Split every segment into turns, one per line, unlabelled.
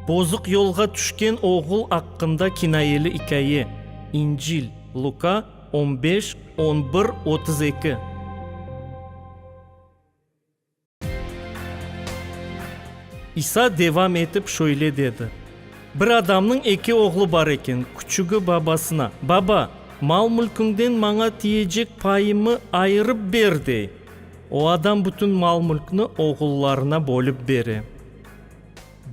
Bozuq yolğa tüşken oğul aqqında kinayeli ikâye, İncil, Luka, on beş, on bir, otuz eki. İsa devam etip şöyle dedi, Bir adamnıñ eki oğlu bar eken, küçügi babasına, Baba, mal-mülküñden maña tiyecek payımı ayırıp ber, dey. O adam bütün mal-mülkni oğullarına bölip bere.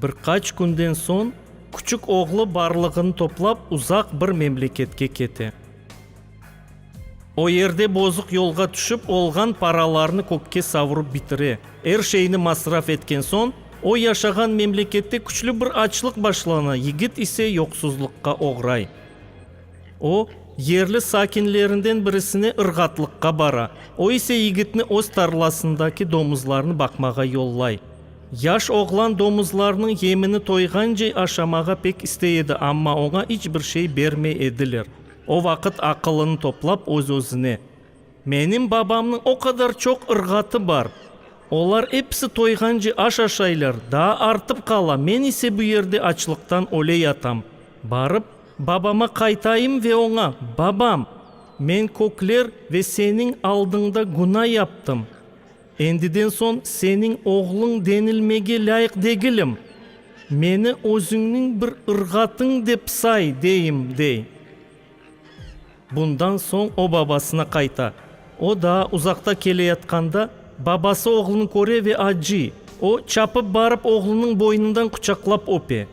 Bir qaç künden soñ küçük oğlu barlığını toplap uzaq bir memleketke kete. O yerde bozuq yolğa tüşip olğan paralarını kökke savurıp bitire. Er şeyni masraf etken soñ o yaşağan memlekette küçlü bir açlıq başlana, yigit ise yoqsuzlıqqa oğray. O, yerli sakinlerinden birisine ırğatlıqqa bara, o ise yigitni öz tarlasındaki domuzlarnı baqmağa yollay. Yaş oğlan domuzlarnıñ yemini toyğance aşamağa pek istey edi, amma oña iç bir şey bermey ediler. O vaqıt aqılını toplap, öz-özüne. Menim babamnıñ o qadar çoq ırğatı bar, olar episi toyğance aş aşaylar, daa artıp qala, men ise bu yerde açlıqtan öle yatam. Barıp, babama qaytayım ve oña, Babam, men kökler ve seniñ aldıñda günâ yaptım. Endiden soñ seniñ oğluñ denilmege lâyıq degilim. Meni özüñniñ bir ırğatıñ dep say, deyim, dey. Bundan soñ o babasına qayta. O daa uzaqta keleyatqanda, babası oğlunı köre ve acıy. O, çapıp barıp oğlunıñ boynundan quçaqlap öpe.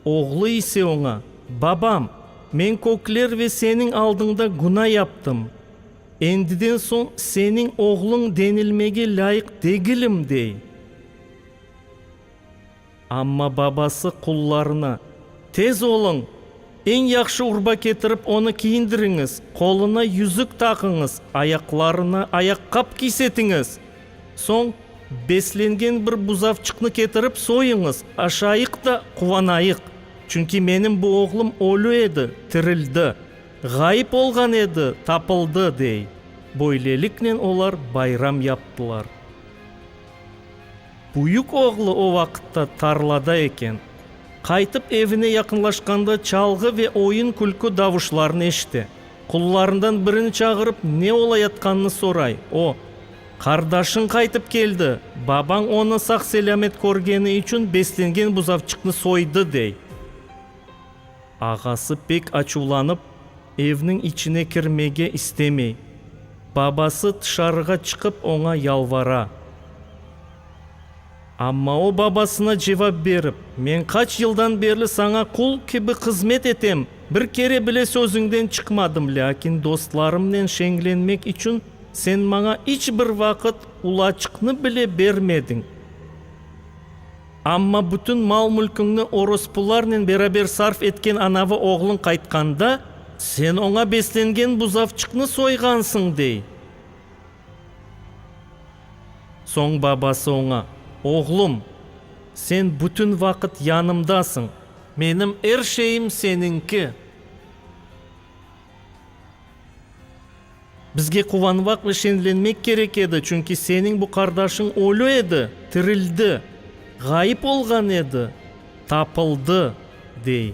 Oğlu ise oña, Babam, men kökler ve seniñ aldıñda günâ yaptım. Endiden soñ seniñ oğluñ denilmege lâyıq degilim, dey. Amma babası qullarına, Tez oluñ, eñ yahşı urba ketirip, onı kiyindiriñiz, qoluna yüzük taqıñız, ayaqlarına ayaqqap kiysetiñiz. Soñ beslengen bir buzavçıqnı ketirip soyuñız, aşayıq da quvanayıq. Çünki menim bu oğlum ölü edi, tirildi, ğayıp olğan edi, tapıldı, dey. Böyleliknen olar bayram yaptılar. Büyük oğlu o vaqıtta tarlada eken. Qaytıp evine yaqınlaşqanda çalğı ve oyun-külkü davuşlarını eşite. Qullarından birini çağırıp, ne olayatqanını soray. O, Qardaşıñ qaytıp keldi, babañ onı sağ-selâmet körgeni içün beslengen buzavçıqnı soydı, dey. Ağası pek açuvlanıp, evniñ içine kirmege istemey. Babası tışarığa çıqıp oña yalvara. Amma o babasına cevap berip, Men qaç yıldan berli saña qul kibi hızmet etem, bir kere bile sözüñden çıqmadım, lâkin dostlarımnen şeñlenmek içün sen maña iç bir vaqıt ulaçıqnı bile bermediñ. Amma bütün mal-mülküñni orospularnen beraber sarf etken anavı oğluñ qaytqanda, sen oña beslengen buzavçıqnı soyğansıñ, dey. Soñ babası oña, Oğlum, sen bütün vaqıt yanımdasıñ. Menim er şeyim seniñki. Bizge quvanvaq ve şenlenmek kerek edi, çünki seniñ bu qardaşıñ ölü edi, tirildi, ğayıp olğan edi, tapıldı, dey.